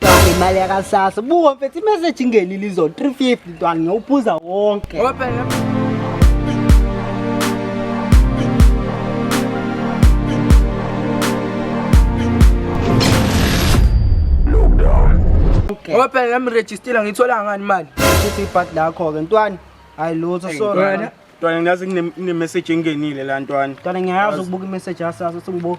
Ntwana imali yakasasa. Buka mfethu imessage ingenile izo 350 ntwana ngiyawuphuza wonke. Okay. Ngoba phela nami registile ngithola ngani imali. Sithi ibhadi lakho ke ntwana. Hayi lutho sorry. Ntwana. Ntwana ngiyazi ngine ngine message engenile la ntwana. Ntwana ngiyazi ukubuka imessage yasasa ukuthi ngibo.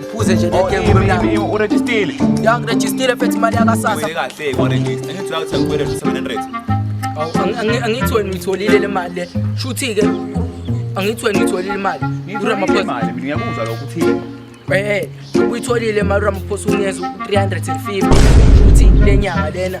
Ngiphuze nje leke oh, ngibona. Urejistile. Ya ngirejistile fethi imali yakasasa. Ngibele kahle warejista. Angithi uyathi ngibele 700. Angithi wena uyitholile le mali le. Shuthi ke angithi wena uyitholile imali. Ngiyitholile imali. Mina ngiyakuzwa lokho uthini. Eh, uyitholile imali uRamaphosa unikeza u350 futhi lenyanga lena.